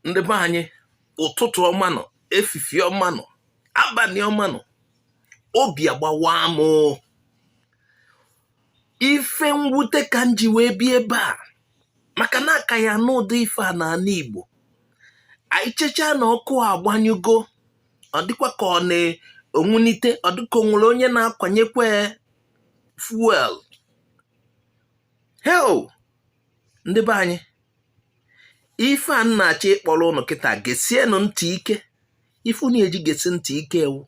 ndị be anyị ụtụtụ ọma nụ efifi ọma nụ abanị ọma nụ obi agbawa m ife mwute ka m ji wee bịa ebe a maka na a ka ya anụ ụdị ife a n'ana Igbo anyị checha na ọkụ agbanyụgo ọ dịkwa ka ọ na-enwunite ọ dịka o nwere onye na-akwanyekwa fuel heu ndị be anyị ife a m na-achọ ịkpọrọ ụnụ kịta gesienụ ntị ike ife unu eji gesi ntị ike wụ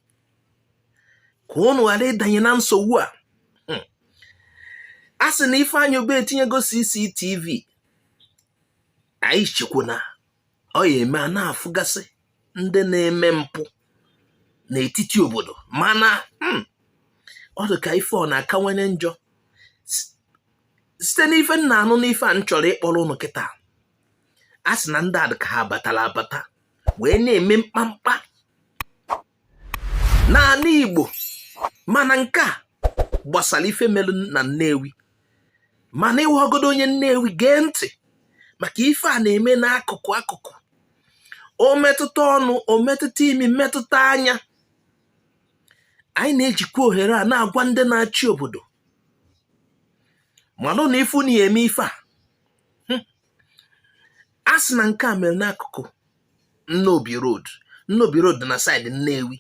ka ụnụ ghara ịdanye na nsogbu a hmm. a sị na Ifeanyi Ubah etinyego CCTV anyị chekwu na ọ ya eme a na-afụgasị ndị na-eme mpụ n'etiti obodo mana hmm, ọ dị ka ife ọ na-akawanye njọ site n'ife m na-anụ n'ife a m chọrọ ịkpọrọ ụnụ kịta a sị na ndị a dị ka ha batara abata wee na-eme mkpamkpa n'ana Igbo mana nke a gbasara ife mere na Nnewi mana ị wụhọgodu onye Nnewi gee ntị maka ife a na-eme n'akụkụ akụkụ o metụta ọnụ o metụta imi metụta anya anyị na-ejikwa ohere a na-agwa ndị na-achị obodo malụnụ ife unu ya eme ife a hmm. a sị na nke a mere n'akụkụ nnobi road nnobi road na saịdị nnewi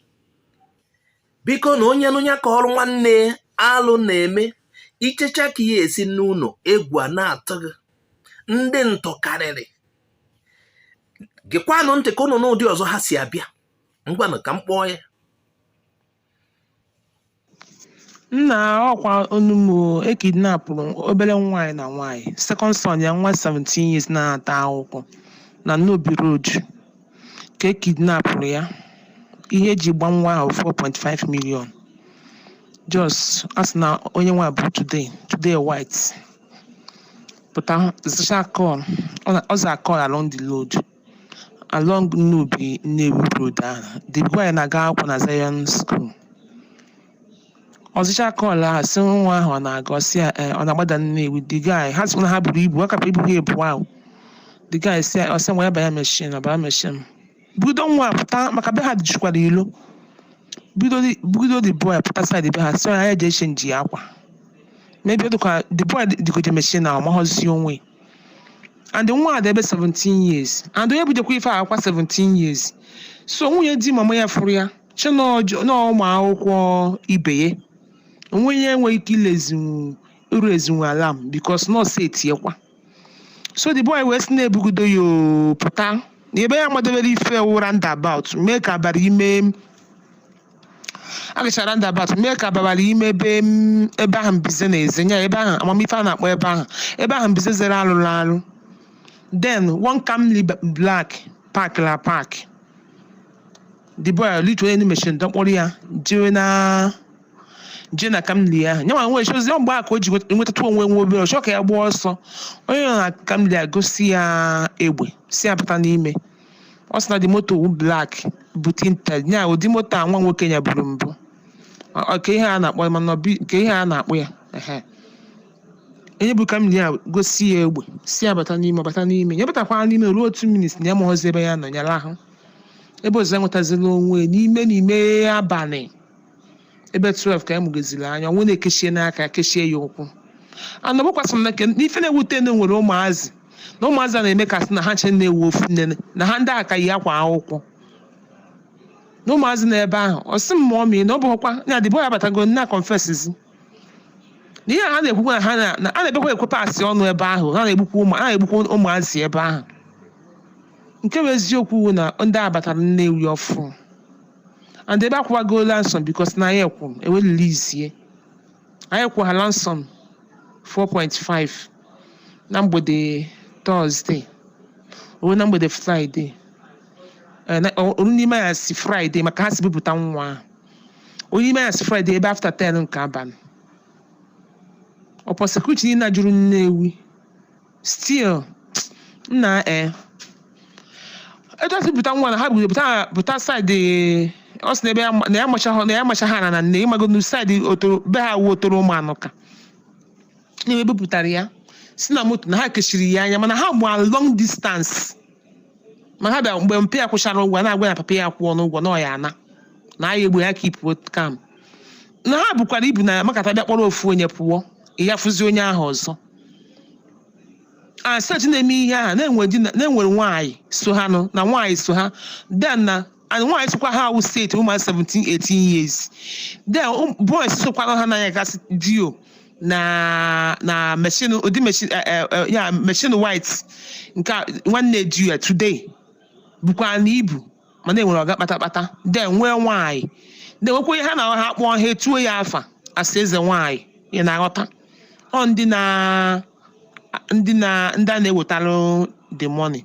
bikonụ onye nụ nya kọọrọ nwanne alụ na-eme i checha ka ị ya esi naa ụlọ egwu a na-atụ gị ndị ntọ karịrị gekwanụ ntị ka ụnụ nụ ụdị ọzọ ha si abịa ngwanụ ka m kpọọ ya nna ọkwa onumo e kidnapụrụ obere nwaanyị na nwaanyị second son ya nwa 17 years na-anata akwụkwọ na Nnobi Road ka e kidnapụrụ ya ihe e ji gba nwa ahụ 4.5 million just a sị na onye nwa bụ today today white pụta zacha call ọ za call along the road along Nnobi Nnewi Road ahụ the boy na-aga akwụkwọ na Zion School ọ zacha call ahụ sị nwa ahụ ọ na-aga ọ sị ya "Eh, ọ na-agbada Nnewi the guy ha sịkwa na ha buru ibu ọ kapụ ibu ha ebu ahụ the guy si ọ sị nwa ya banye meshin ọ banye meshin budo nwa a pụta maka be ha jikwara ilo budo the- budo the boy pụta side be ha sị ya ya jee chenji ya akwa maybe ọ dịkwa the boy dịgoje meshin ahụ mahọzi onwe ya and nwa a dị ebe 17 years and onye bidokwa ife akwa 17 years so nwunye di mama ya fụrụ ya che na ọjọ- na ụmụ akwụkwọ ibe ya onwe ya enweghị ike iraisenwu iraisenwu alarm because na ọ sị etiekwa so the boy wee sị na-ebugodo ya oo, pụta na ebe ya madebere ife wụ roundabout mee ka abara ime a gachara roundabout mee ka abara ime ebe m ebe ahụ mbize na-eze nya ebe ahụ amam ife a na-akpọ ebe ahụ ebe ahụ mbize zere alụrụ alụ then one camry b- black park la park the boy litu onye machine dọkpụrụ ya jewe na jee na camry ahụ nyanwa nwe chozi ọ mgbe a ka o ji nwet- nwetatụ onwe nwe obere ọ chọ ka ya gbaa ọsọ onye nọ na camry egosi ya egbe sị ya bata n'ime ọ sị na the moto wụ black bụ tinted ya ụdị moto a nwa nwoke ya buru mbụ Ọ- ọ- ka ihe a na-akpọ ya mana ọ bi- ka ihe a na-akpọ ya ehe. onye bụ camry egosi ya egbe sị ya bata n'ime ọ bata n'ime ya batakwara n'ime ruo 2 minutes na ya mahụzi ebe ya nọ ya lahụ ebe ọzọ enwetazila onwe ya n'ime n'ime abalị ebe 12 ka ya mụgoziri anya o wee na-ekechie n'aka kechie ya ụkwụ ana gbakwasị m na nke n'ife na-ewute na e nwere ụmụazị na ụmụazị a na-eme ka sị na ha ncha na-ewu ofu nne na ha ndị a ka yi akwa akwụkwọ na ụmụazị nọ ebe ahụ ọ sị m ma ọ mee na ọ bụghịkwa na the boy abatago na confesszi na ihe a ha na-ekwukwa na ha na na- a na-ebekwa ekwe pasị ọnụ ebe ahụ ha na-egbukwa ụmụ ha na-egbukwa ụmụazị ebe ahụ nke bụ eziokwu wụ na ndị a batara Nnewi ọfụ and ebe akwụwago ransom because na anyị kwụrụ e wee release ya anyị kwụrụ ha ransom 4.5 na mgbede Thursday o wee na mgbede Friday Eh, na- o- o ruo n'ime anyasị Friday maka ha si bupụta nwa ahụ. o ruo ime anyasị Friday ebe after 10 nke abalị upon security niile a juru Nnewi still na eh etu e si bupụta nwa na ha buru pụta pụta side ọ sị na ebe ya ma- na ya macha ha na ya macha ha na na nne ịmago na side Otolo be ha wụ Otolo Ụmụanụka na ebupụtara ya si na moto na ha kechiri ya anya mana ha gbahụ long distance ma ha bịa mgbe mpa ya kwụchara ụgwọ a na-agwa ya papa ya akwụọna ụgwọ na ọ ya ana na anyị egbu ya keep calm na ha bukwara ibu na makata bịa kpọrọ ofu onye pụọ ya fụzi onye ahụ ọzọ set na-eme ihe ahụ na-enwe di na- na e nwere nwaanyị so ha nụ na nwaanyị so ha then na and nwaanyị sokwa ha awụ steeti ụmụ 17 18 years then ụm- boys sokwara ha n'anya gasị dio na na machine ụdị machine eh, eh, eh, ya machine white nke a, nwanne di ya today bụkwa na ibu mana enwere ọga kpatakpata then nwee nwaanyị then nwekwa ihe ha na ha kpọọ ha etuo ya afa asị eze nwaanyị ị na-aghọta ọ ndị na ndị na ndị a na-ewetara the money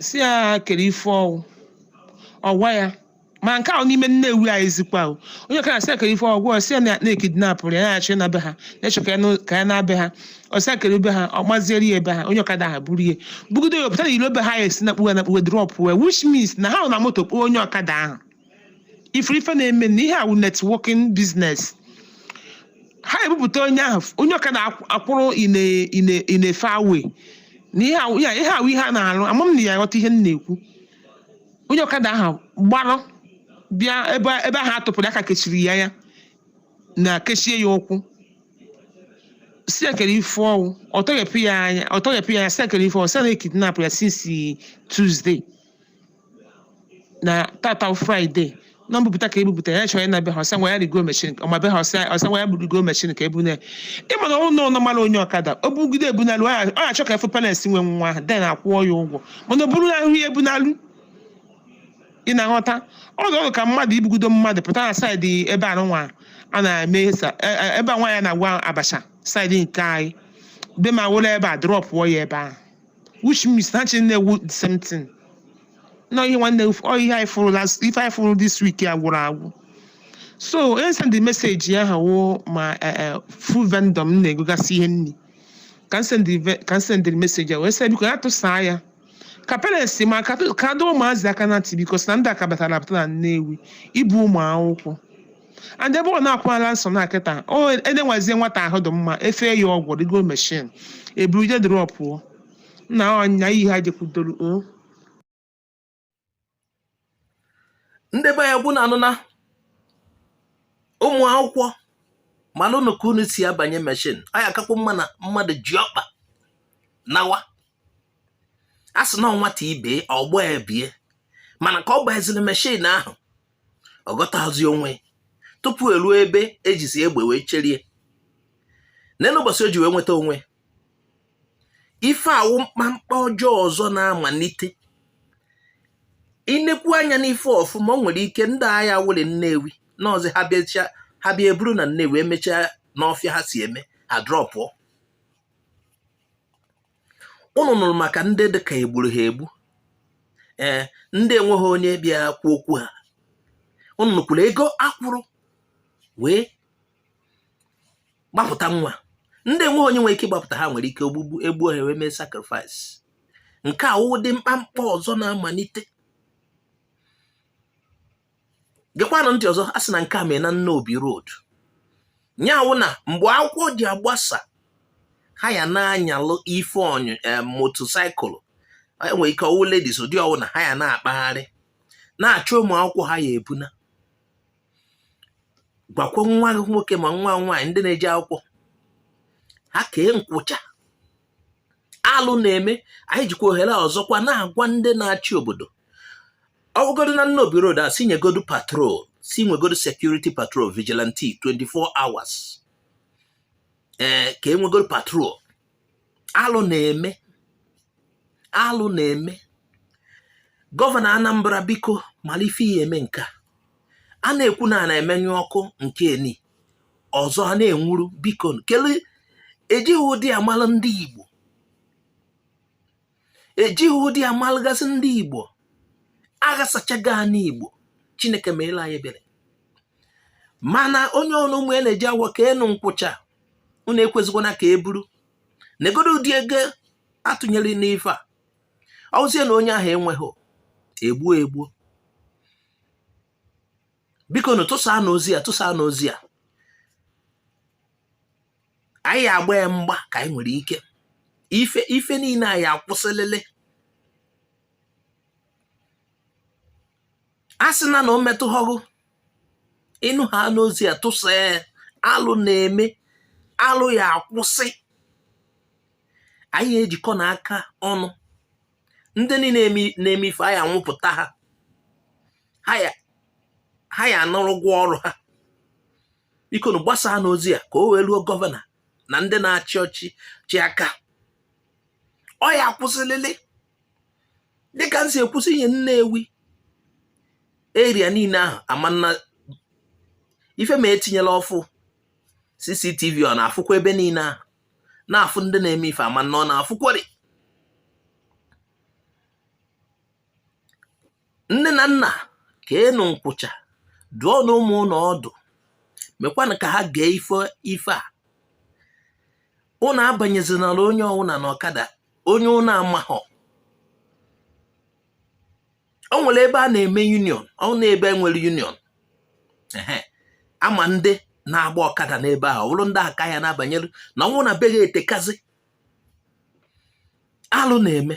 sị ya kere ife ọ wụ ọ gwa ya ma nke ahụ n'ime nnewi anyị zikwa o. onye ọkada sị ya kere ife ọ wụ ọ sị ya na- na e kidnapụrụ ya na-achọ ịna be ha na-echọ ka ya na- ka ya naa be ha ọ sị ya kere be ha ọ gbaziere ya ebe ha onye ọkada ha buru ya bugodo ya pụta na ilo be ha ya esi na kpuwe na kpuwe drọpụ wee which means na ha nọ na moto kpọọ onye ọkada ahụ ị fụrụ ife na-eme na ihe awụ networking business ha ebupụta onye ahụ onye ọkada akwụrụ ine ine ine fawe na ihe awụ ya ihe awụ ihe a na-arụ ama m na ya ghọta ihe m na-ekwu onye ọkada ahụ gbarụ bịa ebe ebe ahụ a tụpụrụ aka kechiri ya anya kechie ya ụkwụ sị ya kere ife ọ wụ ọ tọghepụ ya anya ọ tọghepụ ya anya sị ya kere ife ọ wụ sị na e kidnapụ ya since Tuesday na tata bụ Friday na mbupụta ka e bupụta ya chọrọ ịna be ha ọ sị ngwa ya rigo machine ọ ma be ha ọ sị ọ sị ngwa ya rigo machine ka ebune ị ma na ụlọ ụlọ mara onye ọkada o bugide ebunalu ọ na-achọ ka a fụ parents nwe nwa ahụ then akwụọ ya ụgwọ mana o buru na ahụ ya ebunalu ị na-aghọta ọ dị ọrụ ka mmadụ ibugudo mmadụ pụta na side ebe a nwa a na-eme sa- e- e- ebe a nwaanyị na-agwọ abacha side nke anyị be ma wụrụ ebe a drọpụọ ya ebe ahụ which means na chi na-ewu the same thing na ihe nwanne ọ ihe anyị fụrụ last ife anyị fụrụ this week ya gwụrụ agwụ so onye send the message ya ha wụ ma eh, eh, food vendor m na-egogasị ihe nri ka m send the ve- ka m send the message ya wee sị biko ya tụsaa ya ka parents ma ka ka dọọ ụmụazị aka na ntị because na ndị a ka batara abata na nnewi ibu ụmụ akwụkwọ and ebe ọ na-akwala nsọ na kịta o edenwazie nwata ahụ dị mma efee ya ọgwụ rigo machine eburu je drọpụọ nna ọnya iyi ha jekwudoro o ndị be ya gwu na anụna ụmụ akwụkwọ malụnụ ka unu si abanye machine anyị akakwa mma na mmadụ ji ọkpa nawa a sị na nwata ibe ọgbọ ebie mana ka ọ gbaziri machine ahụ ọ ghọtazi onwe tupu eruo ebe e jizi egbe wee cherie n'elu ụbọchị o ji wee nweta onwe ife awụ mkpamkpa ọjọọ ọzọ na-amalite inekwu anya n'ife ọfụma o nwere ike ndị agha wụlị nnewi n'ọzọ ha bịacha ha bịa eburu na nnewi emechaa n'ọfịa ha si eme ha drọpụọ ụnụ nụrụ maka ndị dị ka e gburu ha egbu ee ndị enweghị onye bịa kwuo okwu ha ụnụ nụkwuru ego a kwụrụ wee gbapụta nwa ndị enweghị onye nwere ike ịgbapụta ha nwere ike ogbugbu egbuo ha wee mee sacrifice nke a wụ ụdị mkpamkpa ọzọ na-amalite gekwanụ ntị ọzọ a sị na nke a mee na Nnobi road nya wụ na mgbe akwụkwọ ji agbasa ha ya na-anyalụ ife ọnyụ eh, motorcycle enwere ike ọ wụ ladies ụdị ọwụna ha ya na-akpagharị na-achọ ụmụ akwụkwọ ha ya ebuna gwakwa nwa gị nwoke ma nwa nwaanyị ndị na-eje akwụkwọ ha kee nkwụcha alụ na-eme anyị jikwa ohere a ọzọkwa na-agwa ndị na-achị obodo ọ wụgodu na Nnobi Road a si nyegodu patrol si nwegodu security patrol vigilante 24 hours ee eh, ka enwegodu patrol alụ na-eme alụ na-eme gọvanọ Anambra biko mara ife ị ya eme nke a na-ekwu na a na-emenyụ ọkụ nke ni ọzọ a na-enwuru biko kele ejighị ụdị a malụ ndị Igbo ejighị ụdị a malụgasị ndị igbo aghasachago anị igbo chineke meelụ anyị ebere mana onye ọwụna ụmụ ya na-eje akwụkwọ keenụ nkwụcha unu ekwezikwana ka e buru negodu ụdị ego a tụnyere n'ife a ọ wụzie na onye ahụ enweghị egbuo egbuo bikonụ tụsaanụ ozi a tụsaanụ ozi a anyị ya agba ya mgba ka anyị nwere ike ife ife niile a ya akwụsịlịlị asịna na o metụghọ gị ị nụhana ozi a tụsaa alụ na-eme alụ ya akwụsị anyị ya ejikọ na aka ọnụ ndị niile na-eme ife a ya anwụpụta ha ha ya anara ụgwọ ọrụ ha bikonụ gbasaanụ ozi a ka o wee ruo gọvanọ na ndị na-achị ọchịchị aka ọ ya akwụsịlịlị dịka m si ekwusi ihe Nnewi area niile ahụ amanna ife ma etinyela ọfụ CCTV ọ na-afụkwa ebe niile ahụ na-afụ ndị na-eme ife amanna ọ na-afụkwari nne na nna keenụ nkwụcha dụọnụ ụmụ ụnụ ọdụ mekwanụ ka ha gee ife ife a ụnụ abanyezinara onye ọwụna na ọkada onye ụnụ amahọ o nwere ebe a na-eme union ọ na ebe e nwere union a ma ndị na-agba ọkada n'ebe ahụ ọ bụrụ ndị ahụ ka a ya na-abanyere na ọ wụ na be gị etekazi alụ na-eme